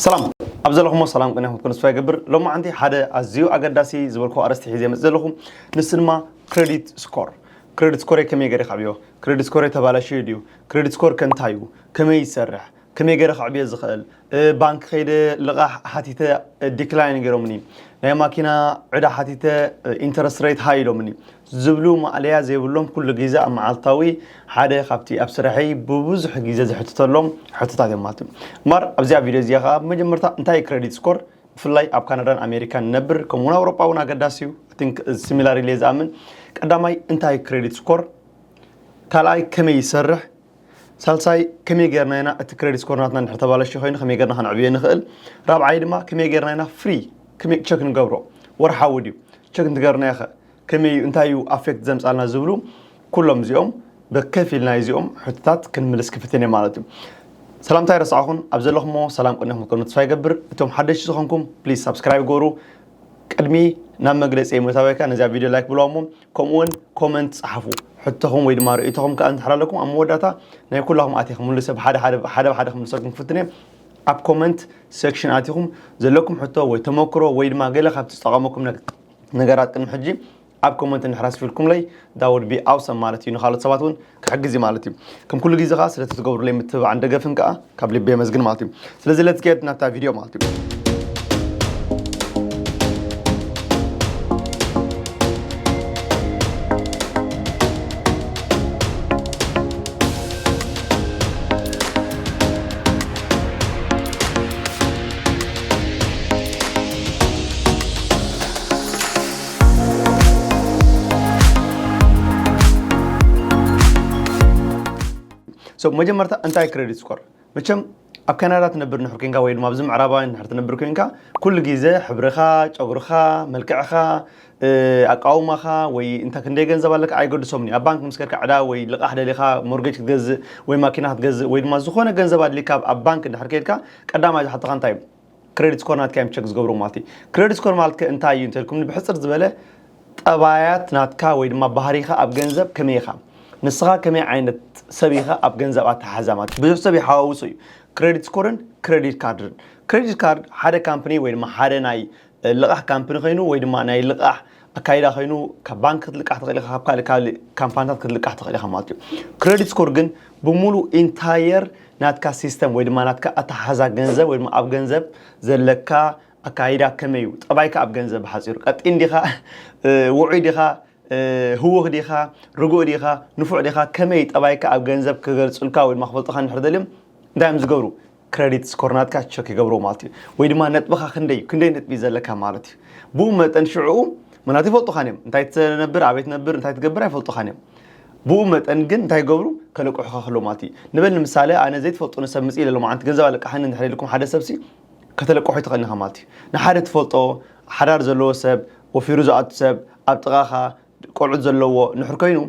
ሰላም ኣብ ዘለኹሞ ሰላም ቅንያ ክትኮኑ ተስፋ ይገብር ሎማዓንቲ ሓደ ኣዝዩ ኣገዳሲ ዝበልኩ ኣርእስቲ ሒዘ መፅ ዘለኹ ንሱ ድማ ክሬዲት ስኮር ክሬዲት ስኮር ከመይ ገይረ ክዕብዮ ክሬዲት ስኮር ተባላሽዩ ድዩ ክሬዲት ስኮር ከንታይ እዩ ከመይ ይሰርሕ ከመይ ገይረ ክዕብዮ ዝኽእል ባንኪ ከይደ ልቓሕ ሓቲተ ዲክላይን ገይሮምኒ ናይ ማኪና ዕዳ ሓቲተ ኢንተረስት ሬት ሃይ ኢሎምኒ ዝብሉ ማእለያ ዘይብሎም ኩሉ ግዘ ኣብ መዓልታዊ ሓደ ካብቲ ኣብ ስራሐይ ብብዙሕ ግዘ ዝሕትተሎም ሕቶታት እዮም ማለት እዩ። እምበኣር ኣብዚኣ ቪድዮ እዚኣ ከኣ ብመጀመርታ እንታይ እዩ ክረዲት ስኮር ብፍላይ ኣብ ካናዳን ኣሜሪካን ንነብር ከምኡ እውን ኣውሮጳ እውን ኣገዳሲ እዩ ቲንክ ሲሚላር ኢለ ዝኣምን ቀዳማይ እንታይ እዩ ክረዲት ስኮር ካልኣይ ከመይ ይሰርሕ ሳልሳይ ከመይ ጌርና ኢና እቲ ክሬዲት ስኮር ናትና እንድሕር ተባለሽ ኮይኑ ከመይ ጌርና ከነዕብዮ ንኽእል ራብዓይ ድማ ከመይ ጌርና ኢና ፍሪ ቸክ ንገብሮ ወርሓዊ ድዩ ቸክ እንትገርናዮ ኸ ከመይ እዩ እንታይ እዩ ኣፌክት ዘምፃልና ዝብሉ ኩሎም እዚኦም ብከፊል ናይ እዚኦም ሕቶታት ክንምልስ ክፍትን እየ ማለት እዩ ሰላምታ ይረስዓኹን ኣብ ዘለኹሞ ሰላም ቅኒኹም ክትኮኑ ተስፋ ይገብር እቶም ሓደሽቲ ዝኾንኩም ፕሊዝ ሳብስክራይብ ገሩ ቅድሚ ናብ መግለፂ ምእታወይ ከዓ ነዚኣ ቪድዮ ላይክ ብለዋ እሞ ከምኡውን ኮመንት ፀሓፉ ሕቶኹም ወይ ድማ ርእይቶኹም ከዓ እንድሕር ኣለኩም ኣብ መወዳእታ ናይ ኩላኹም ኣትየ ክምልሰ ብሓደ ሓደ ሓደ ብሓደ ክምልሰልኩም ክፍትን እየ ኣብ ኮመንት ሴክሽን ኣትኹም ዘለኩም ሕቶ ወይ ተመክሮ ወይ ድማ ገለ ካብቲ ዝጠቐመኩም ነገራት ቅድሚ ሕጂ ኣብ ኮመንት እንድሕር ኣስፊርኩምለይ ዳውድ ቢ ኣውሰም ማለት እዩ ንካልኦት ሰባት እውን ክሕግዝ እዩ ማለት እዩ ከም ኩሉ ግዜ ከዓ ስለቲ ትገብሩለይ ምትብባዕን ደገፍን ከዓ ካብ ልቢ የመስግን ማለት እዩ ስለዚ ለት ጌድ ናብታ ቪድዮ ማለት እዩ ሰብ መጀመርታ እንታይ ክሬዲት ስኮር መቸም ኣብ ካናዳ ትነብር ንሕር ኮንካ ወይ ድማ ኣብዚ ምዕራባውያን ንሕር ትነብር ኮንካ ኩሉ ግዜ ሕብርኻ ጨጉርኻ መልክዕኻ ኣቃውማኻ ወይ እንተ ክንደይ ገንዘብ ኣለካ ኣይገድሶምን እዩ። ኣብ ባንክ ምስ ከድካ ዕዳ ወይ ልቓሕ ደሊኻ ሞርጌጅ ክትገዝእ ወይ ማኪና ክትገዝእ ወይ ድማ ዝኾነ ገንዘብ ኣድልይካ ኣብ ኣብ ባንክ እንድሕር ከይድካ ቀዳማይ ዝሓቱኻ እንታይ እዩ ክረዲት ስኮር ናትካ እዮም ቸክ ዝገብርዎ ማለት እዩ። ክረዲት ስኮር ማለት ከ እንታይ እዩ እንተልኩምኒ ብሕጽር ዝበለ ጠባያት ናትካ ወይ ድማ ባህሪኻ ኣብ ገንዘብ ከመይ ኢኻ ንስኻ ከመይ ዓይነት ሰብ ኢኻ ኣብ ገንዘብ ኣተሓሕዛ ማለት እዩ። ብዙሕ ሰብ ይሓዋውሶ እዩ ክረዲት ስኮርን ክረዲት ካርድን። ክረዲት ካርድ ሓደ ካምፕኒ ወይ ድማ ሓደ ናይ ልቓሕ ካምፕኒ ከይኑ ወይ ድማ ናይ ልቓሕ ኣካይዳ ከይኑ ካብ ባንክ ክትልቃሕ ትኽእል ኢኻ ካብ ካልእ ካልእ ካምፓኒታት ክትልቃሕ ትኽእል ኢኻ ማለት እዩ ክሬዲት ስኮር ግን ብምሉእ ኢንታየር ናትካ ሲስተም ወይ ድማ ናትካ ኣተሓሓዛ ገንዘብ ወይ ድማ ኣብ ገንዘብ ዘለካ ኣካይዳ ከመይ እዩ ጠባይካ ኣብ ገንዘብ ብሓፂሩ ቀጢን ዲኻ ውዑይ ዲኻ ህውኽ ዲኻ ርጉእ ዲኻ ንፉዕ ዲኻ ከመይ ጠባይካ ኣብ ገንዘብ ክገልፁልካ ወይ ድማ ክፈልጡኻ እንድሕር ደልዮም እንታይ እዮም ዝገብሩ ክረዲት ስኮር ናትካ ቸክ ይገብሮ ማለት እዩ ወይ ድማ ነጥብኻ ክንደይ እዩ ክንደይ ነጥቢ ዘለካ ማለት እዩ ብኡ መጠን ሽዕኡ ምክንያቱ ይፈልጡኻን እዮም እንታይ ትነብር ኣበይ ትነብር እንታይ ትገብር ኣይፈልጡኻን እዮም ብኡ መጠን ግን እንታይ ይገብሩ ከለቅሑኻ ከሎ ማለት እዩ ንበል ንምሳሌ ኣነ ዘይትፈልጡ ንሰብ ምፅ ኢለ ሎማዓንቲ ገንዘብ ኣለቃሓኒ እንድሕር ኢልኩም ሓደ ሰብሲ ከተለቅሖ ይትኽእል ኢኻ ማለት እዩ ንሓደ ትፈልጦ ሓዳር ዘለዎ ሰብ ወፊሩ ዝኣቱ ሰብ ኣብ ጥቓኻ ቆልዑት ዘለዎ ንሑር ኮይኑ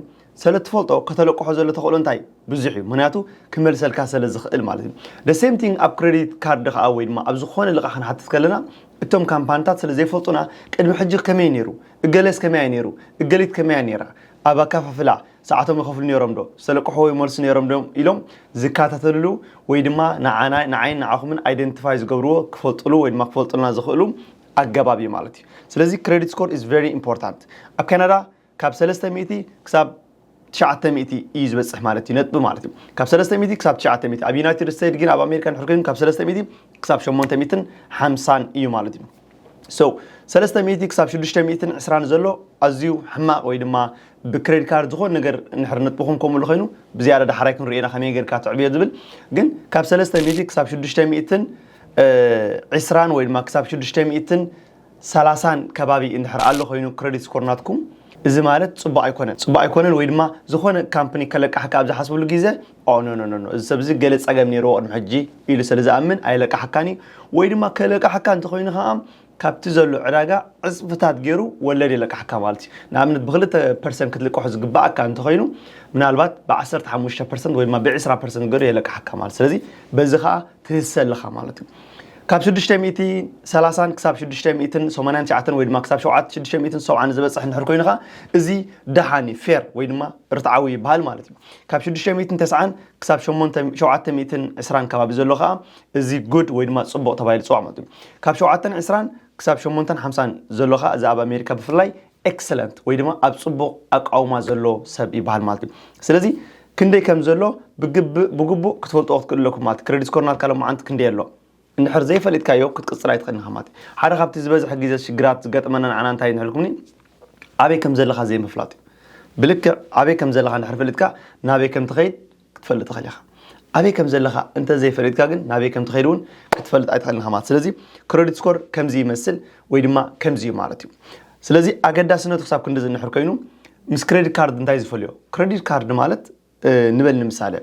ሰለ ትፈልጦ ከተለቅሖ ዘሎ ተኽእሎ እንታይ ብዙሕ እዩ ምክንያቱ ክመልሰልካ ሰለ ዝኽእል ማለት እዩ the same thing ኣብ ክሬዲት ካርድ ከዓ ወይ ድማ ኣብ ዝኾነ ልቓሕ ክንሓትት ከለና እቶም ካምፓንታት ስለ ዘይፈልጡና ቅድሚ ሕጂ ከመይ ነይሩ እገሌስ ከመይ ኣይ ነይሩ እገሊት ከመይ ኣይ ነይራ ኣብ ኣካፋፍላ ሰዓቶም ይኸፍሉ ነይሮም ዶ ሰለቅሖ ይመልሱ ነይሮም ዶ ኢሎም ዝከታተልሉ ወይ ድማ ንዓና ንዓይን ንዓኹምን ኣይደንቲፋይ ዝገብርዎ ክፈልጥሉ ወይ ድማ ክፈልጡልና ዝኽእሉ ኣገባብ እዩ ማለት እዩ ስለዚ ክሬዲት ስኮር ኢዝ ቨሪ ኢምፖርታንት ኣብ ካናዳ ካብ 3 ሚእቲ ክሳብ ትሽዓተ ሚእቲ እዩ ዝበፅሕ ማለት እዩ ነጥቢ ማለት እዩ ካብ ሰለስተ ሚእቲ ክሳብ ትሽዓተ ሚእቲ ኣብ ዩናይትድ ስቴትስ ግን ኣብ ኣሜሪካ ንሕር ግን ካብ ሰለስተ ሚእቲ ክሳብ ሸሞንተ ሚእትን ሓምሳን እዩ ማለት እዩ ሶ ሰለስተ ሚእቲ ክሳብ ሽዱሽተ ሚእትን ዕስራን ዘሎ ኣዝዩ ሕማቕ ወይ ድማ ብክሬዲት ካርድ ዝኾነ ነገር ንሕር ነጥብኹም ከምሉ ኮይኑ ብዝያዳ ዳሕራይ ክንሪኦ ኢና ከመይ ጌርካ ትዕብዮ ዝብል ግን ካብ ሰለስተ ሚእቲ ክሳብ ሽዱሽተ ሚእትን ዒስራን ወይ ድማ ክሳብ ሽዱሽተ ሚእትን ሰላሳን ከባቢ እንድሕር ኣሎ ኮይኑ ክረዲት ስኮር ናትኩም እዚ ማለት ጽቡቕ ኣይኮነን ጽቡቕ ኣይኮነን ወይ ድማ ዝኾነ ካምፕኒ ከለቃሕካ ኣብ ዝሓስብሉ ግዜ ኦ ኖ ኖ ኖ እዚ ሰብ እዚ ገለ ጸገም ነይርዎ ቅድሚ ሕጂ ኢሉ ስለ ዝኣምን ኣይለቃሕካን እዩ ወይ ድማ ከለቃሕካ እንተኾይኑ ከኣ ካብቲ ዘሎ ዕዳጋ ዕጽፍታት ገይሩ ወለድ የለቅሓካ ማለት እዩ። ንኣብነት ብክልተ ፐርሰንት ክትልቀሖ ዝግበኣካ እንተኾይኑ ምናልባት ብዓሰርተ ሓሙሽተ ፐርሰንት ወይ ድማ ብዕስራ ፐርሰንት ገይሩ የለቅሓካ ማለት ስለዚ በዚ ከኣ ትህሰ ኣለኻ ማለት እዩ። ካብ ሽዱሽተ ሚእቲ ሰላሳን ክሳብ ሽዱሽተ ሚእትን ሰማንያን ትሽዓተን ወይ ድማ ክሳብ ሸውዓተ ሽዱሽተ ሚእትን ሰብዓን ዝበጽሕ እንድሕር ኮይኑ ከኣ እዚ ደሓን እዩ ፌር ወይ ድማ ርትዓዊ ይበሃል ማለት እዩ። ካብ ሽዱሽተ ሚእትን ተስዓን ክሳብ ሸሞንተ ሸውዓተ ሚእትን ዕስራን ከባቢ ዘሎ ከኣ እዚ good ወይ ድማ ጽቡቕ ተባሂሉ ዝጽዋዕ ማለት እዩ። ካብ ሸውዓተን ዕስራን ክሳብ ሸሞንተን ሓምሳን ዘሎ ከኣ እዚ ኣብ ኣሜሪካ ብፍላይ excellent ወይ ድማ ኣብ ጽቡቕ ኣቃውማ ዘሎ ሰብ ይበሃል ማለት እዩ። ስለዚ ክንደይ ከም ዘሎ ብግብእ ብግቡእ ክትፈልጥዎ ክትክእሉ ኣለኩም ማለት ክሬዲት ስኮር ናትካ ሎማዓንቲ ክንደይ ኣሎ እንድሕር ዘይፈሊጥካዮ ክትቅጽል ኣይትኽእልን ኢኻ ማለት እዩ። ሓደ ካብቲ ዝበዝሕ ግዜ ሽግራት ዝገጥመና ንዓና እንታይ እዩ ንሕልኩምኒ ኣበይ ከም ዘለኻ ዘይምፍላጥ እዩ። ብልክዕ ኣበይ ከም ዘለኻ እንድሕር ፈሊጥካ ናበይ ከም ትኸይድ ክትፈልጥ ትኽእል ኢኻ። ኣበይ ከም ዘለኻ እንተ ዘይፈሊጥካ ግን ናበይ ከም ትኸይድ እውን ክትፈልጥ ኣይትኽእልን ኢኻ ማለት ስለዚ ክረዲት ስኮር ከምዚ ይመስል ወይ ድማ ከምዚ እዩ ማለት እዩ። ስለዚ ኣገዳስነቱ ክሳብ ክንዲ ዝንሕር ኮይኑ ምስ ክሬዲት ካርድ እንታይ ዝፈልዮ? ክሬዲት ካርድ ማለት ንበል ንምሳሌ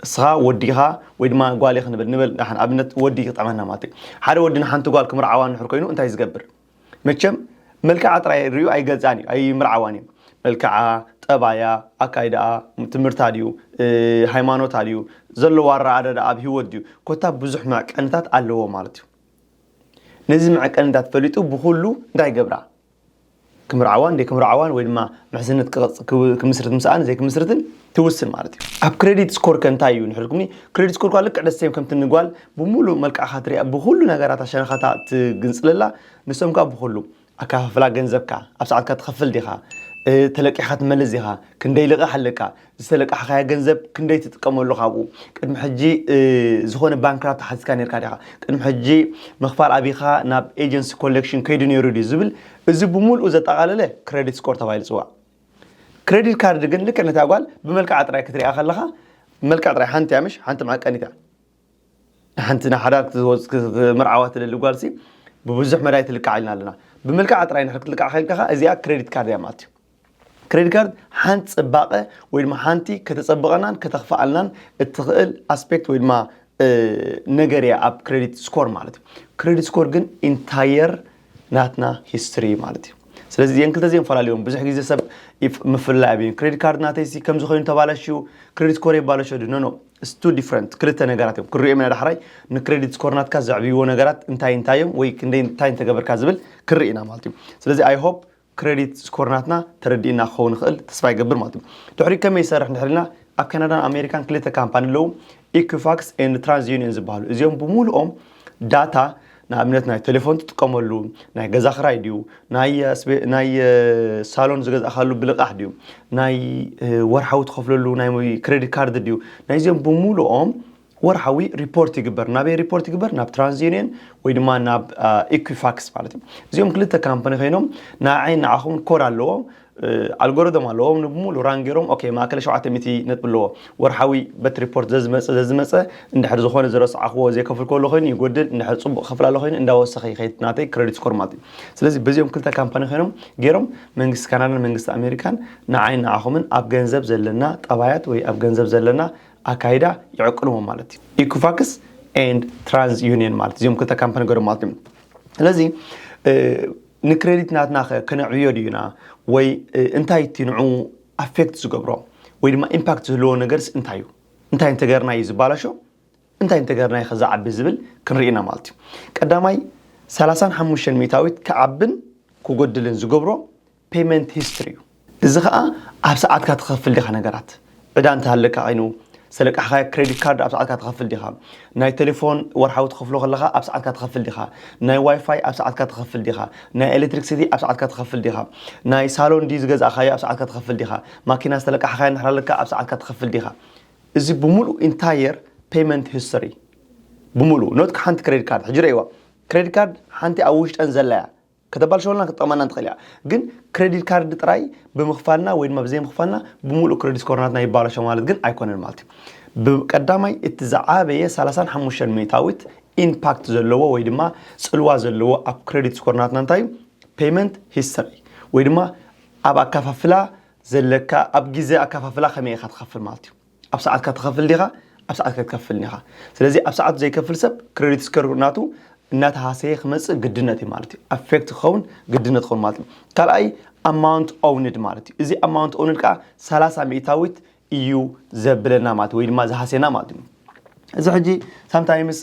እስኻ ወዲ ኢኻ ወይ ድማ ጓል ኢኽ ንበል ንበል ንኣብነት ወዲ ክጥዕመና ማለት እዩ። ሓደ ወዲ ንሓንቲ ጓል ክምርዓዋ እንድሕር ኮይኑ እንታይ ዝገብር? መቸም መልክዓ ጥራይ ሪኡ ኣይገልጻን እዩ ኣይምርዓዋን እዩ መልክዓ ጠባያ ኣካይዳኣ ትምህርታ ድዩ ሃይማኖታ ድዩ ዘለዎ ኣረኣዳዳ ኣብ ሂወት ድዩ ኮታ ብዙሕ መዕቀንታት ኣለዎ ማለት እዩ ነዚ መዕቀንታት ፈሊጡ ብኩሉ እንታይ ገብራ ክምርዓዋን ደይ ክምርዓዋን ወይ ድማ ምሕዝነት ክምስርት ምስኣን ዘይክምስርትን ትውስን ማለት እዩ ኣብ ክሬዲት ስኮር ከ እንታይ እዩ ንሕልኩም ክሬዲት ስኮር ኳ ልክዕ ደሴም ከምቲ ንጓል ብምሉእ መልክዕካ ትሪኣ ብኩሉ ነገራታ ሸነኻታ ትግንጽለላ ንሶም ከ ብኩሉ ኣከፋፍላ ገንዘብካ ኣብ ሰዓትካ ትኸፍል ዲኻ ተለቂሕካ ትመልስ ዲኻ ክንደይ ልቓሕ ኣለካ ዝተለቃሕካዮ ገንዘብ ክንደይ ትጥቀመሉ ካብኡ ቅድሚ ሕጂ ዝኾነ ባንክራፕት ሓቲትካ ነርካ ዲኻ ቅድሚ ሕጂ ምኽፋል ኣቢኻ ናብ ኤጀንሲ ኮሌክሽን ከይዱ ነይሩ ድዩ ዝብል እዚ ብምልኡ ዘጠቓለለ ክሬዲት ስኮር ተባሂሉ ይጽዋዕ ክሬዲት ካርድ ግን ልክዕ ነታ ጓል ብመልክዓ ጥራይ ክትሪኣ ከለኻ መልክዕ ጥራይ ሓንቲ እያ ምሽ ሓንቲ መዓቀኒት እያ ንሓንቲ ንሓዳር ክትምርዓዋ ትደሊ ጓልሲ ብብዙሕ መዳይ ትልክዓ ኢልና ኣለና ብመልክዓ ጥራይ ንሕር ክትልክዓ ከልካ ከ እዚኣ ክሬዲት ካርድ እያ ማለት እዩ ክሬዲት ካርድ ሓንቲ ፅባቐ ወይ ድማ ሓንቲ ከተፀብቐናን ከተኽፍኣልናን እትኽእል ኣስፔክት ወይ ድማ ነገር እያ ኣብ ክሬዲት ስኮር ማለት እዩ ክሬዲት ስኮር ግን ኢንታየር ናትና ሂስትሪ ማለት እዩ ስለዚ እዚአን ክልተ እዚአን ፈላልዮም ብዙሕ ግዜ ሰብ ምፍላይ ኣብዩ ክሬዲት ካርድ ናተይሲ ከምዚ ኮይኑ ተባላሽዩ ክሬዲት ስኮር የባለሾ ድዩ ኖኖ ስቱ ዲፍረንት ክልተ ነገራት እዮም ክንሪኦም ኢና ዳሕራይ ንክሬዲት ስኮር ናትካ ዘዕብይዎ ነገራት እንታይ እንታይ እዮም ወይ ክንደይ እንታይ እንተገበርካ ዝብል ክንርኢ ኢና ማለት እዩ ስለዚ ኣይ ሆፕ ክረዲት ስኮር ናትና ተረዲእና ክኸውን ይኽእል ተስፋ ይገብር ማለት እዩ ድሕሪ ከመይ ይሰርሕ እንድሕር ኢልና ኣብ ካናዳን ኣሜሪካን ክልተ ካምፓኒ ኣለዉ ኢኩፋክስ ን ትራንስ ዩኒየን ዝበሃሉ እዚኦም ብምሉኦም ዳታ ንኣብነት ናይ ቴሌፎን ትጥቀመሉ ናይ ገዛ ክራይ ድዩ ናይ ሳሎን ዝገዛእካሉ ብልቃሕ ድዩ ናይ ወርሓዊ ትኸፍለሉ ናይ ክሬዲት ካርድ ድዩ ናይዚኦም ብምሉኦም ወርሓዊ ሪፖርት ይግበር ናበይ ሪፖርት ይግበር ናብ ትራንስዩኒየን ወይ ድማ ናብ ኢኩፋክስ ማለት እዩ እዚኦም ክልተ ካምፓኒ ኮይኖም ንዓይን ንዓኹም ኮድ ኣለዎ ኣልጎሪቶም ኣለዎ ንብሙሉ ራን ገይሮም ኦኬ ማእከለ ሸውዓተ ሚእቲ ነጥቢ ኣለዎ ወርሓዊ በት ሪፖርት ዘዝመፀ ዘዝመፀ እንድሕር ዝኾነ ዝረስዓኽዎ ዘይከፍል ከሎ ኮይኑ ይጎድል እንድሕር ፅቡቕ ከፍል ኣሎ ኮይኑ እንዳወሰኸ ይኸይድ ናተይ ክሬዲት ስኮር ማለት እዩ ስለዚ በዚኦም ክልተ ካምፓኒ ኮይኖም ገይሮም መንግስቲ ካናዳን መንግስቲ ኣሜሪካን ንዓይን ንዓኹምን ኣብ ገንዘብ ዘለና ጠባያት ወይ ኣብ ገንዘብ ዘለና ኣካይዳ ይዕቅንዎ ማለት እዩ ኢኩፋክስ ኤንድ ትራንስ ዩኒየን ማለት እዚኦም ክልተ ካምፓኒ ገሩ ማለት እዩ ስለዚ ንክሬዲት ናትና ከነዕብዮ ድዩና ወይ እንታይ እቲ ንዑ ኣፌክት ዝገብሮ ወይ ድማ ኢምፓክት ዝህልዎ ነገርስ እንታይ እዩ እንታይ እንተገርና እዩ ዝባላሾ እንታይ እንተገርና እዩ ከዛዓቢ ዝብል ክንርኢና ማለት እዩ ቀዳማይ 35 ሚእታዊት ክዓብን ክጎድልን ዝገብሮ ፔመንት ሂስትሪ እዩ። እዚ ኸኣ ኣብ ሰዓትካ ትኸፍል ዲኻ ነገራት፣ ዕዳ እንተሃለካ ኸይኑ፣ ዝተለቃሕኻዮ ክረዲት ካርድ ኣብ ሰዓትካ ትኸፍል ዲኻ፣ ናይ ተሌፎን ወርሓዊ ትኸፍሎ ከለኻ ኣብ ሰዓትካ ትኸፍል ዲኻ፣ ናይ ዋይፋይ ኣብ ሰዓትካ ትኸፍል ዲኻ፣ ናይ ኤለትሪክሲቲ ኣብ ሰዓትካ ትኸፍል ዲኻ፣ ናይ ሳሎን ድዩ ዝገዛእኻዮ ኣብ ሰዓትካ ትኸፍል ዲኻ፣ ማኪና ዝተለቃሕኻያ እንድሕር ኣለካ ኣብ ሰዓትካ ትኸፍል ዲኻ። እዚ ብምሉኡ ኢንታየር ፔመንት ሂስተሪ ብምሉኡ ኖት ሓንቲ ክረዲት ካርድ ሕጂ ርእይዋ ክረዲት ካርድ ሓንቲ ኣብ ውሽጠን ዘላ እያ ከተባልሸወልናን ክትጠቕመናን ትኽእል እያ። ግን ክረዲት ካርድ ጥራይ ብምኽፋልና ወይ ድማ ብዘይምኽፋልና ብምሉእ ክረዲት ስኮርናትና ይባላሾ ማለት ግን ኣይኮነን ማለት እዩ። ብቀዳማይ እቲ ዝዓበየ ሰላሳን ሓሙሽተን ሚእታዊት ኢንፓክት ዘለዎ ወይ ድማ ጽልዋ ዘለዎ ኣብ ክረዲት ስኮርናትና እንታይ እዩ? ፔይመንት ሂስተሪ ወይ ድማ ኣብ ኣካፋፍላ ዘለካ ኣብ ግዜ ኣካፋፍላ ከመይ ኢኻ ትኸፍል ማለት እዩ። ኣብ ሰዓትካ ትኸፍል ዲኻ ኣብ ሰዓትካ ኣይትከፍልን ኢኻ ስለዚ ኣብ ሰዓቱ ዘይከፍል ሰብ ክሬዲት ስከሩ ናቱ እናተሃሰየ ክመፅእ ግድነት እዩ ማለት እዩ ኣፌክት ክኸውን ግድነት ክኸውን ማለት እዩ ካልኣይ ኣማውንት ኦውንድ ማለት እዩ እዚ ኣማውንት ኦውንድ ከዓ ሰላሳ ሚእታዊት እዩ ዘብለና ማለት ወይ ድማ ዝሃስየና ማለት እዩ እዚ ሕጂ ሳምታይምስ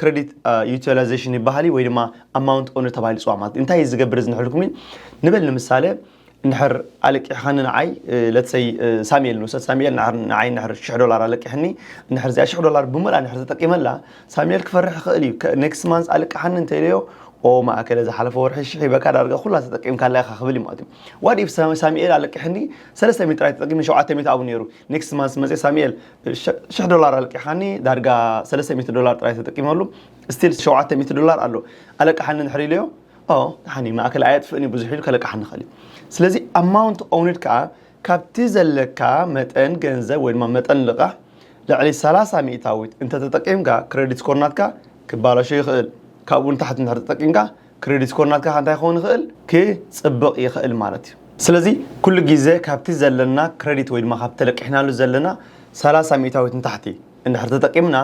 ክሬዲት ዩቲላይዜሽን ይበሃል ወይ ድማ ኣማውንት ኦውንድ ተባሂሉ ፅዋ ማለት እንታይ እዩ ዝገብር እዚ ንሕልኩም እዩ ንበል ንምሳሌ እንድሕር ኣለቂሕኻኒ ንዓይ let's say ሳሚኤል ንውሰድ ሳሚኤል ንዓር- ንዓይ እንድሕር ሽሕ ዶላር ኣለቂሕኒ እንድሕር እዚኣ ሽሕ ዶላር ብምልኣ እንድሕር ተጠቂመላ ሳሚኤል ክፈርሕ ይኽእል እዩ ከ- next month ኣልቅሓኒ እንተኢለዮ ኦ ማእከለ ዝሓለፈ ወርሒ ሽሕ ሂበካ ዳርጋ ኩላ ተጠቂምካላ ኢኻ ክብል እዩ ማለት እዩ what if ሳ- ሳሚኤል ኣለቂሕኒ ሰለስተ ሚእቲ ጥራይ ተጠቂመ ሸውዓተ ሚእቲ ኣብኡ ነይሩ next month መጺኣ ሳሚኤል ሸ- ሽሕ ዶላር ኣለቂሕኻኒ ዳርጋ ሰለስተ ሚእቲ ዶላር ጥራይ ተጠቂመሉ still ሸውዓተ ሚእቲ ዶላር ኣሎ ኣለቅሓኒ እንድሕር ኢለዮ ኦ ደሓን እዩ ማእከል ኣየጥፍእን እዩ ብዙሕ ኢሉ ከለቅሓኒ ይኽእል እዩ ስለዚ ኣማውንት ኦውንድ ከዓ ካብቲ ዘለካ መጠን ገንዘብ ወይ ድማ መጠን ልቓሕ ልዕሊ 30 ሚእታዊት እንተተጠቂምካ ክሬዲት ስኮር ናትካ ክባላሾ ይኽእል ካብኡ ንታሕቲ እንድሕር ተጠቂምካ ክሬዲት ስኮር ናትካ ከዓ እንታይ ክኸውን ይኽእል ክፅብቕ ይኽእል ማለት እዩ ስለዚ ኩሉ ግዜ ካብቲ ዘለና ክሬዲት ወይ ድማ ካብቲ ተለቂሕናሉ ዘለና 30 ሚእታዊት ንታሕቲ እንድሕር ተጠቂምና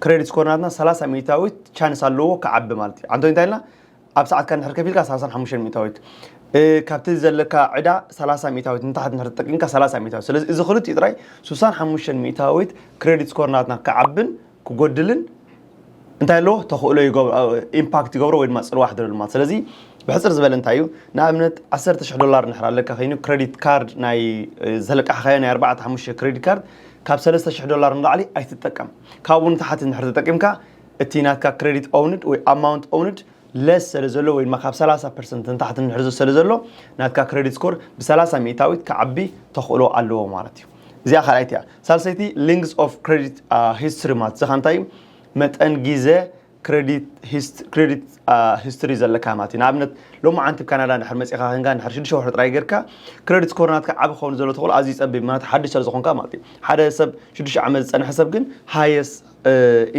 ክሬዲት ስኮር ናትና ሰላሳ ሚእታዊት ቻንስ ኣለዎ ክዓቢ ማለት እዩ ዓንቶ እንታይ ኢልና ኣብ ሰዓትካ ንድሕር ከፊልካ ሰላሳን ሓሙሽተን ሚእታዊት እ፣ ካብቲ ዘለካ ዕዳ ሰላሳ ሚእታዊት ንታሕት ንድሕር ተጠቂምካ ሰላሳ ሚእታዊት ስለዚ እዚ ክልቲኡ ጥራይ ስሳን ሓሙሽተን ሚእታዊት ክሬዲት ስኮር ናትና ክዓብን ክጎድልን እንታይ ኣለዎ ተኽእሎ ይገብሮ ኢምፓክት ይገብሮ ወይ ድማ ፅልዋ ሕድረሉ ማለት ስለዚ ብሕፅር ዝበለ እንታይ እዩ ንኣብነት 10 ሽሕ ዶላር ንድሕር ኣለካ ኮይኑ ክሬዲት ካርድ ናይ እ፣ ዘለቃሕኻዮ ናይ 4 ሓሙሽተ ክሬዲት ካርድ ካብ ሰለስተ ሽሕ ዶላር ንላዕሊ ኣይትጠቀም። ካብኡ ንታሕቲ እንድሕር ተጠቂምካ እቲ ናትካ ክረዲት ኦውንድ ወይ ኣማውንት ኦውንድ ለስ ሰለ ዘሎ ወይ ድማ ካብ ሰላሳ ፐርሰንት ንታሕቲ እንድሕር ሰለ ዘሎ ናትካ ክረዲት ስኮር ብሰላሳ ሚእታዊት ክዓቢ ተኽእሎ ኣለዎ ማለት እዩ። እዚኣ ካልኣይቲ እያ። ሳልሰይቲ ሊንግዝ ኦፍ ክረዲት ሂስትሪ ማለት እዚ ካኣ እንታይ እዩ መጠን ጊዘ Credit hist- credit uh, history ዘለካ ማለት እዩ ንኣብነት ሎሚ ዓንቲ ብ ካናዳ ንድሕር መፂኻ ክንካ ንድሕር ሽዱሽተ ወርሒ ጥራይ ጌርካ ክሬዲት ስኮር ናትካ ዓቢ ክኸውን ዘሎ ተኽእሎ ኣዝዩ ፀቢብ ምክንያቱ ሓድሽ ስለ ዝኾንካ ማለት እዩ ሓደ ሰብ ሽዱሽተ ዓመት ዝፀንሐ ሰብ ግን ሃየስ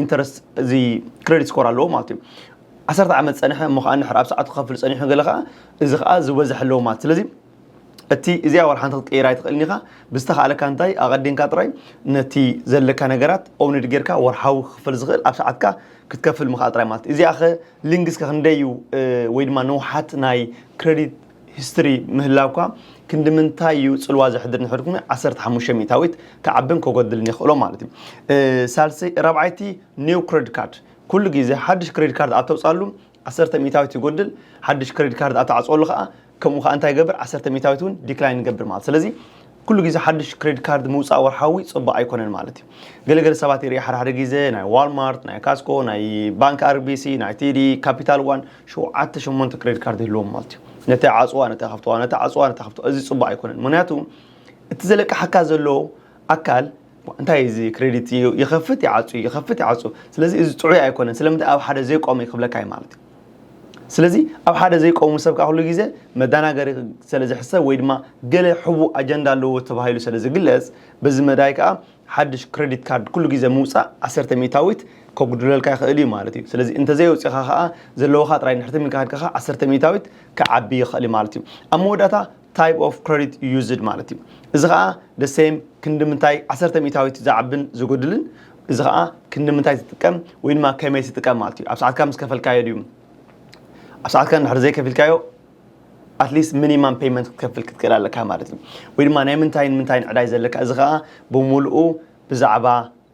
ኢንተረስት እዚ ክሬዲት ስኮር ኣለዎ ማለት እዩ ዓሰርተ ዓመት ፀንሐ እሞ ከዓ ንድሕር ኣብ ሰዓቱ ክኸፍል ፀኒሑ ገለ ከዓ እዚ ከዓ ዝበዝሕ ኣለዎ ማለት ስለዚ እቲ እዚኣ ዋላ ሓንቲ ክትቅይራ ኣይትኽእልን ኢኻ ብዝተኻእለካ እንታይ ኣቐዲንካ ጥራይ ነቲ ዘለካ ነገራት ኦውንድ ጌርካ ወርሓዊ ክኽፈል ዝኽእል ኣብ ሰዓትካ ክትከፍል ምኽኣል ጥራይ ማለት እዚኣ ኸ ሊንግስ ከ ክንደይ እዩ ወይ ድማ ንውሓት ናይ ክረዲት ሂስትሪ ምህላውካ ክንዲ ምንታይ እዩ ጽልዋ ዘሕድር ንሕድ ኩነ ዓሰርተ ሓሙሽተ ሚእታዊት ክዓብን ከጎድልን የኽእሎ ማለት እዩ ሳልሰይ ራብዓይቲ ኒው ክሬዲት ካርድ ኩሉ ግዜ ሓድሽ ክሬዲት ካርድ ኣብ ተውጽኣሉ ዓሰርተ ሚእታዊት ይጎድል ሓድሽ ክሬዲት ካርድ ኣብ ትዓጽወሉ ከኣ ከምኡ ከኣ እንታይ ይገብር ዓሰርተ ሚእታዊት እውን ዲክላይን ይገብር ማለት ስለዚ ኩሉ ግዜ ሓድሽ ክሬዲት ካርድ ምውጻእ ወርሓዊ ጽቡቕ ኣይኮነን ማለት እዩ ገለገለ ሰባት ይርኢ ሓደ ሓደ ግዜ ናይ ዋልማርት ናይ ካስኮ ናይ ባንክ ኣርቢሲ ናይ ቲዲ ካፒታል ዋን ሸውዓተ ሸሞንተ ክሬዲት ካርድ ይህልዎም ማለት እዩ ነቲ ዓጽዋ ነቲ ከፍትዋ ነቲ ዓጽዋ ነቲ ከፍትዋ እዚ ጽቡቕ ኣይኮነን ምክንያቱ እቲ ዘለቅሓካ ዘሎ ኣካል እንታይ እዩ እዚ ክሬዲት እዩ ይኸፍት ይዓፁ እዩ ይኸፍት ይዓፁ ስለዚ እዚ ጥዑይ ኣይኮነን ስለምንታይ ኣብ ሓደ ዘይቆመ እዩ ክብለካ እዩ ማለት እዩ ስለዚ ኣብ ሓደ ዘይቆሙ ሰብ ከዓ ኩሉ ግዜ መዳናገሪ ስለ ዝሕሰብ ወይ ድማ ገለ ሕቡእ ኣጀንዳ ኣለዎ ተባሂሉ ስለ ዝግለጽ በዚ መዳይ ከዓ ሓድሽ ክሬዲት ካርድ ኩሉ ግዜ ምውፃእ ዓሰርተ ሚእታዊት ከጉድለልካ ይኽእል እዩ ማለት እዩ ስለዚ እንተዘየውፂእኻ ከዓ ዘለዎኻ ጥራይ ንሕትም ኢልካ ከድካ ከዓ ዓሰርተ ሚእታዊት ክዓቢ ይኽእል እዩ ማለት እዩ ኣብ መወዳእታ ታይፕ ኦፍ ክረዲት ዩዝድ ማለት እዩ እዚ ከዓ ደሴም ክንዲ ምንታይ ዓሰርተ ሚእታዊት ዝዓብን ዝጎድልን እዚ ከዓ ክንዲ ምንታይ ትጥቀም ወይ ድማ ከመይ ትጥቀም ማለት እዩ ኣብ ሰዓትካ ምስ ከፈልካዮ ድዩ ኣብ ሰዓትካ እንድሕር ዘይከፊልካዮ ኣትሊስት ሚኒማም ፔይመንት ክትከፍል ክትክእል ኣለካ ማለት እዩ ወይ ድማ ናይ ምንታይን ምንታይን ዕዳይ ዘለካ እዚ ከዓ ብምሉኡ ብዛዕባ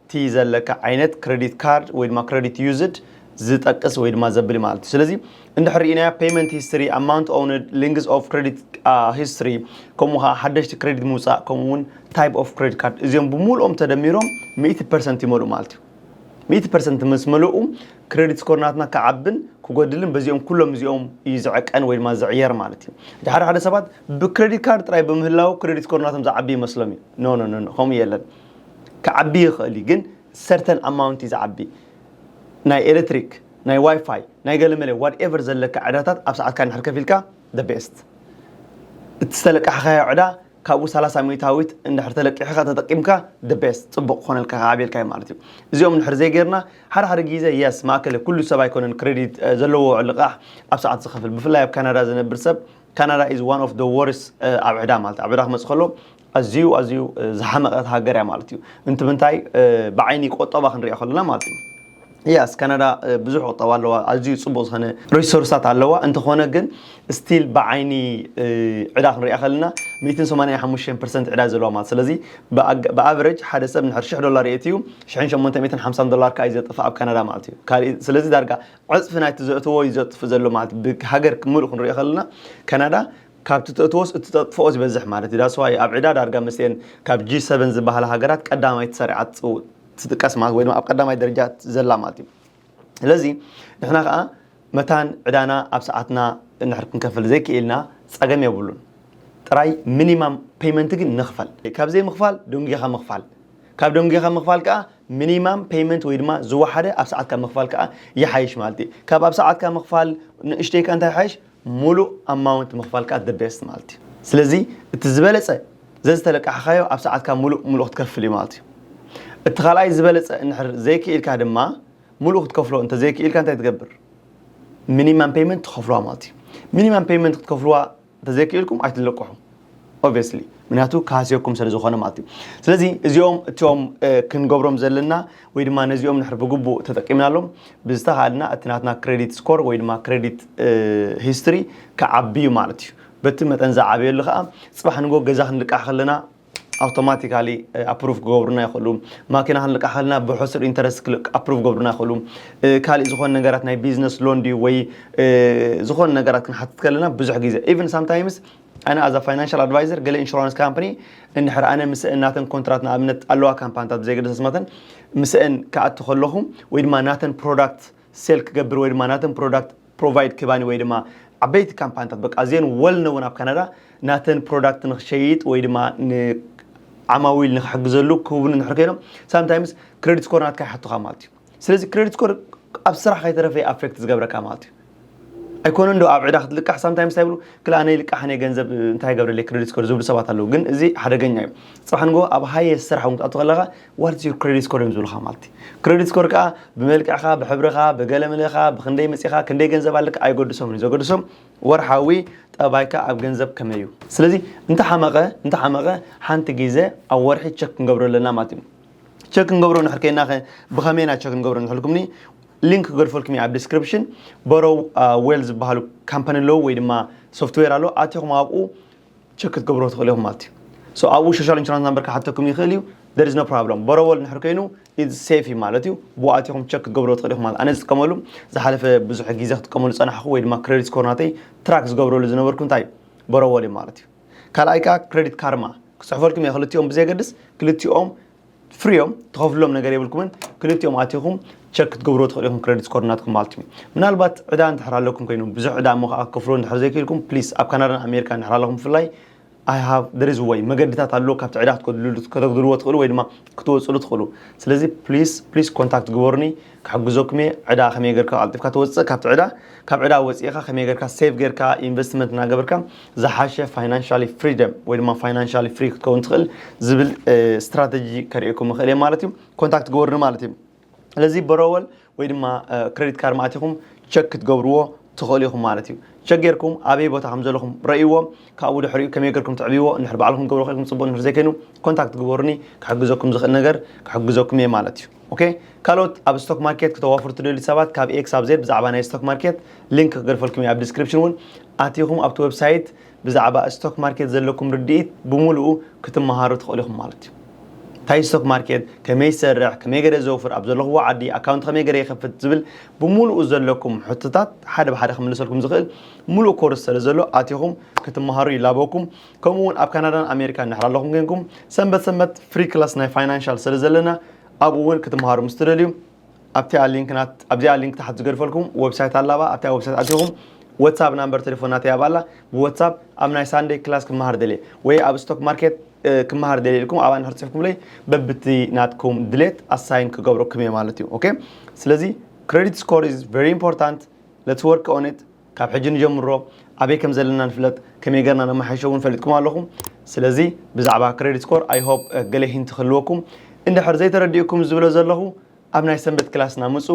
እቲ ዘለካ ዓይነት ክረዲት ካርድ ወይ ድማ ክረዲት ዩዝድ ዝጠቅስ ወይ ድማ ዘብል ማለት እዩ ስለዚ እንድሕር ርኢናያ ፔመንት ሂስትሪ ኣማውንት ኦውንድ ሊንግዝ ኦፍ ክረዲት ሂስትሪ ከምኡ ከዓ ሓደሽቲ ክሬዲት ምውፃእ ከምኡ እውን ታይፕ ኦፍ ክሬዲት ካርድ እዚኦም ብምሉኦም ተደሚሮም ሚእቲ ፐርሰንት ይመልኡ ማለት እዩ ሚእቲ ፐርሰንት ምስ መለኡ ክሬዲት ስኮር ናትና ክዓብን ክጎድልን በዚኦም ኩሎም እዚኦም እዩ ዝዕቀን ወይ ድማ ዝዕየር ማለት እዩ እቲ ሓደ ሓደ ሰባት ብክሬዲት ካርድ ጥራይ ብምህላው ክሬዲት ስኮር ናቶም ዝዓቢ ይመስሎም እዩ ኖ ኖ ኖ ከምኡ የለን ክዓቢ ይኽእል እዩ ግን ሰርተን ኣማውንት እዩ ዝዓቢ ናይ ኤለትሪክ ናይ ዋይፋይ ናይ ገለመለ ዋት ኤቨር ዘለካ ዕዳታት ኣብ ሰዓትካ እንድሕር ከፊልካ the best እቲ ዝተለቃሕኻዮ ዕዳ ካብኡ ሰላሳ ሚእታዊት እንድሕር ተለቂሕኻ ተጠቂምካ the best ጽቡቕ ክኾነልካ ክዓብየልካ እዩ ማለት እዩ እዚኦም እንድሕር ዘይጌርና ሓደ ሓደ ግዜ የስ ማእከለ ኩሉ ሰብ ኣይኮነን ክሬዲት ዘለዎ ልቓሕ ኣብ ሰዓት ዝኸፍል ብፍላይ ኣብ ካናዳ ዝነብር ሰብ ካናዳ ኢዝ ዋን ኦፍ ደ ወርስ ኣብ ዕዳ ማለት ኣብ ዕዳ ክመጽእ ከሎ ኣዝዩ ኣዝዩ ዝሓመቐት ሃገር እያ ማለት እዩ እንትምንታይ ብዓይኒ ቆጠባ ክንሪኦ ከለና ማለት እዩ ያስ ካናዳ ብዙሕ ቁጠባ ኣለዋ ኣዝዩ ፅቡቅ ዝኮነ ሪሶርስታት ኣለዋ እንተኾነ ግን ስቲል ብዓይኒ ዕዳ ክንሪኣ ከለና 185 ፐርሰንት ዕዳ ዘለዋ ማለት ስለዚ ብኣቨረጅ ሓደ ሰብ ንሕር ሽሕ ዶላር የእትዩ ሽሕን ሸሞንተሚእትን ሓምሳን ዶላር ከዓ እዩ ዘጥፍእ ኣብ ካናዳ ማለት እዩ ካልእ ስለዚ ዳርጋ ዕፅፊ ናይቲ ዘእትዎ እዩ ዘጥፍእ ዘሎ ማለት ብሃገር ምሉእ ክንሪኦ ከለና ካናዳ ካብቲ ተእትዎስ እትጠጥፍኦ ዝበዝሕ ማለት እዩ ዳትስ ዋይ ኣብ ዕዳ ዳርጋ ምስኤን ካብ ጂ ሰቨን ዝበሃላ ሃገራት ቀዳማይ ተሰሪዓ ትጽው ትጥቀስ ማለት ወይ ድማ ኣብ ቀዳማይ ደረጃ ዘላ ማለት እዩ ስለዚ ንሕና ከዓ መታን ዕዳና ኣብ ሰዓትና እንድሕር ክንከፍል ዘይክኢልና ጸገም የብሉን ጥራይ ሚኒማም ፔይመንት ግን ንኽፈል ካብ ዘይምኽፋል ደንጊኻ ምኽፋል ካብ ደንጊኻ ምኽፋል ከዓ ሚኒማም ፔይመንት ወይ ድማ ዝወሓደ ኣብ ሰዓትካ ምኽፋል ከዓ ይሓይሽ ማለት እዩ ካብ ኣብ ሰዓትካ ምኽፋል ንእሽተይካ እንታይ ይሓይሽ ሙሉእ ኣማውንት ምኽፋል ከኣ the best ማለት እዩ ስለዚ እቲ ዝበለጸ ዘዝተለቃሕኻዮ ኣብ ሰዓትካ ሙሉእ ሙሉእ ክትከፍል እዩ ማለት እዩ እቲ ካልኣይ ዝበለጸ እንድሕር ዘይክኢልካ ድማ ሙሉእ ክትከፍሎ እንተዘይክኢልካ እንታይ ትገብር ሚኒማም ፔይመንት ትኸፍልዋ ማለት እዩ ሚኒማም ፔይመንት ክትከፍልዋ እንተዘይክኢልኩም ኣይትለቅሑ ኦብስሊ ምክንያቱ ክሃስየኩም ስለ ዝኾነ ማለት እዩ ስለዚ እዚኦም እቶም ክንገብሮም ዘለና ወይ ድማ ነዚኦም ንሕር ብግቡእ ተጠቂምናሎም ብዝተኻልና እቲ ናትና ክሬዲት ስኮር ወይ ድማ ክሬዲት ሂስትሪ ክዓብዩ ማለት እዩ በቲ መጠን ዝዓበየሉ ከዓ ፅባሕ ንጎ ገዛ ክንልቃሕ ከለና ኣውቶማቲካሊ ኣፕሩቭ ክገብሩና ይኽእሉ ማኪና ክንልቃሕ ከለና ብሕሱር ኢንተረስት ኣፕሩቭ ክገብሩና ይኽእሉ ካሊእ ዝኾነ ነገራት ናይ ቢዝነስ ሎን ድዩ ወይ ዝኾነ ነገራት ክንሓትት ከለና ብዙሕ ግዜ ኢቨን ሳምታይምስ ኣነ ኣዛ ፋይናንሻል ኣድቫይዘር ገለ ኢንሹራንስ ካምፕኒ እንድሕር ኣነ ምስአን ናተን ኮንትራት ንኣብነት ኣለዋ ካምፓንታት ብዘይገደሰ ስመተን ምስአን ክኣቱ ከለኹ ወይ ድማ ናተን ፕሮዳክት ሴል ክገብር ወይ ድማ ናተን ፕሮዳክት ፕሮቫይድ ክባኒ ወይ ድማ ዓበይቲ ካምፓንታት በቃ ኣዝየን ወል ነውን ኣብ ካናዳ ናተን ፕሮዳክት ንክሸይጥ ወይ ድማ ዓማዊል ንክሕግዘሉ ክህቡኒ እንድሕር ኮይኖም ሳምታይምስ ክሬዲት ስኮር ናትካ ይሓቱኻ ማለት እዩ ስለዚ ክረዲት ስኮር ኣብ ስራሕ ከይተረፈ እዩ ኣፌክት ዝገብረካ ማለት እዩ ኣይኮነን ዶ ኣብ ዕዳ ክትልቃሕ ሳምታይምስ እንታይ ይብሉ ክል ኣነ ይልቃሕ ኣነ ገንዘብ እንታይ ይገብረለይ ክረዲት ስኮር ዝብሉ ሰባት ኣለዉ ግን እዚ ሓደገኛ እዩ ፅባሕ ንጎ ኣብ ሃየ ስራሕ እውን ክትኣቱ ከለካ ዋትስ ዩር ክረዲት ስኮር እዮም ዝብሉካ ማለት እዩ ክረዲት ስኮር ከዓ ብመልክዕካ ብሕብርካ ብገለምለካ ብክንደይ መፂእካ ክንደይ ገንዘብ ኣለካ ኣይገድሶም እዩ ዘገድሶም ወርሓዊ ጠባይካ ኣብ ገንዘብ ከመይ እዩ ስለዚ እንተሓመቐ እንተሓመቐ ሓንቲ ግዜ ኣብ ወርሒ ቸክ ክንገብሮ ኣለና ማለት እዩ ቸክ ክንገብሮ ንሕር ከይና ከ ብኸመይ ኢና ቸክ ክንገብሮ ንሕልኩምኒ ሊንክ ክገድፈልኩም ኣብ ዲስክሪፕሽን በሮ ዌል ዝበሃሉ ካምፓኒ ኣለዉ ወይ ድማ ሶፍትዌር ኣሎ ኣትኹም ኣብኡ ቸክ ክትገብሮ ትኽእሉ ኢኹም ማለት እዩ ሶ ኣብኡ ሶሻል ኢንሹራንስ ናምበር ክሓተኩም ይኽእል እዩ there is no problem በሮወል ንሕር ኮይኑ ኢዝ ሴፍ እዩ ማለት እዩ ብኡ ኣትኹም ቸክ ክትገብሮ ትኽእሉ ኢኹም ማለት ኣነ ዝጥቀመሉ ዝሓለፈ ብዙሕ ግዜ ክጥቀመሉ ፀናሕኹ ወይ ድማ ክሬዲት ስኮር ናተይ ትራክ ዝገብረሉ ዝነበርኩ እንታይ በሮወል እዩ ማለት እዩ ካልኣይ ከኣ ክረዲት ካርማ ክጽሕፈልኩም እየ ክልቲኦም ብዘየገድስ ክልቲኦም ፍሪዮም ትኸፍልሎም ነገር የብልኩምን ክልቲኦም ኣቲኹም ቸክ ክትገብርዎ ትኽእሉ ኢኹም ክረዲት ስኮር ናትኩም ማለት እዩ ምናልባት ዕዳ እንድሕር ኣለኩም ኮይኑ ብዙሕ ዕዳ እሞ ከዓ ክፍሎ እንድሕር ዘይክኢልኩም ፕሊስ ኣብ ካናዳን ኣሜሪካ እንድሕር ኣለኹም ብፍላይ ኣይ ሃቭ ደር ኢዝ ወይ መገድታት ኣለዎ ካብቲ ዕዳ ከተግድልዎ ትኽእሉ ወይ ድማ ክትወፅሉ ትኽእሉ ስለዚ ፕሊስ ፕሊስ ኮንታክት ግበሩኒ ክሕግዘኩም እየ ዕዳ ከመይ ገርካ ቀልጢፍካ ትወፅእ ካብቲ ዕዳ ካብ ዕዳ ወፂእኻ ከመይ ገርካ ሴቭ ገርካ ኢንቨስትመንት እናገበርካ ዝሓሸ ፋይናንሻሊ ፍሪደም ወይ ድማ ፋይናንሻሊ ፍሪ ክትከውን ትኽእል ዝብል ስትራተጂ ከርእየኩም ይኽእል እየ ማለት እዩ ኮንታክት ግበሩኒ ማለት እዩ ስለዚ በሮወል ወይ ድማ ክሬዲት ካርድ ማእቲኹም ቸክ ክትገብርዎ ትኽእሉ ኢኹም ማለት እዩ። ቸክ ጌርኩም ኣበይ ቦታ ከም ዘለኹም ረእይዎ፣ ካብኡ ድሕሪኡ ከመይ ጌርኩም ትዕብይዎ፣ እንድሕር ባዕልኹም ክትገብሩ ኼንኩም ጽቡቕ፣ እንድሕር ዘይከይኑ ኮንታክት ግበሩኒ፣ ክሕግዘኩም ዝኽእል ነገር ክሕግዘኩም እየ ማለት እዩ። ኦኬ ካልኦት ኣብ ስቶክ ማርኬት ክተዋፍሩ ትደልዩ ሰባት ካብ ኤ ክሳብ ዜድ ብዛዕባ ናይ ስቶክ ማርኬት ሊንክ ክገድፈልኩም እየ ኣብ ዲስክሪፕሽን እውን ኣቲኹም ኣብቲ ዌብሳይት ብዛዕባ ስቶክ ማርኬት ዘለኩም ርድኢት ብሙሉኡ ክትመሃሩ ትኽእሉ ኢኹም ማለት እዩ። እንታይ ስቶክ ማርኬት፣ ከመይ ይሰርሕ፣ ከመይ ገረ ዘውፍር፣ ኣብ ዘለኹዎ ዓዲ ኣካውንት ከመይ ገረ ይኸፍት ዝብል ብሙሉኡ ዘለኩም ሕቶታት ሓደ ብሓደ ክምልሰልኩም ዝኽእል ሙሉእ ኮርስ ሰለዘሎ ኣቲኹም ክትመሃሩ ይላበወኩም። ከምኡ እውን ኣብ ካናዳን ኣሜሪካን ድሕሪ ኣለኹም ኮይንኩም ሰንበት ሰንበት ፍሪ ክላስ ናይ ፋይናንሻል ሰለዘለና ኣብኡ እውን ክትመሃሩ ምስ ትደልዩ ኣብቲኣ ሊንክ ናት ኣብዚኣ ሊንክ ታሕት ዝገድፈልኩም ወብሳይት ኣላባ ኣብታ ወብሳይት ኣቲኹም ወትሳፕ ናምበር ቴሌፎን ናተይ ኣብኣላ ብወትሳፕ ኣብ ናይ ሳንደይ ክላስ ክመሃር ደልየ ወይ ኣብ ስቶክ ማርኬት ክመሃር ደልየ ኢልኩም ኣብኣ ንድሕር ጽሕፍኩምለይ በብቲ ናትኩም ድሌት ኣሳይን ክገብረኩም እየ ማለት እዩ ኦኬ ስለዚ ክሬዲት ስኮር ኢዝ ቨሪ ኢምፖርታንት ሌትስ ወርክ ኦን ኢት ካብ ሕጂ ንጀምሮ ኣበይ ከም ዘለና ንፍለጥ ከመይ ገርና ነማሓይሾ እውን ፈሊጥኩም ኣለኹም ስለዚ ብዛዕባ ክሬዲት ስኮር ኣይ ሆፕ ገለ ሂንት ክህልወኩም እንድሕር ዘይተረዲኡኩም ዝብሎ ዘለኹ ኣብ ናይ ሰንበት ክላስና ምጹ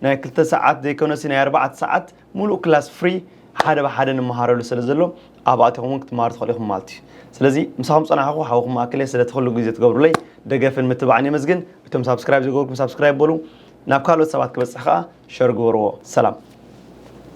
ናይ ክልተ ሰዓት ዘይኮነሲ ናይ ኣርባዕተ ሰዓት ሙሉእ ክላስ ፍሪ ሓደ ብሓደ ንመሃረሉ ስለ ዘሎ ኣብ ኣቲኹም እውን ክትመሃሩ ትኽእሉ ኢኹም ማለት እዩ ስለዚ ምሳኹም ጸናሕኹ ሓውኹም ማእከል እየ ስለቲ ኩሉ ግዜ ትገብሩለይ ደገፍን ምትባዕን የመስግን እቶም ሳብስክራይብ ዘይገበርኩም ሳብስክራይብ በሉ ናብ ካልኦት ሰባት ክበጽሕ ከኣ ሸር ግበርዎ ሰላም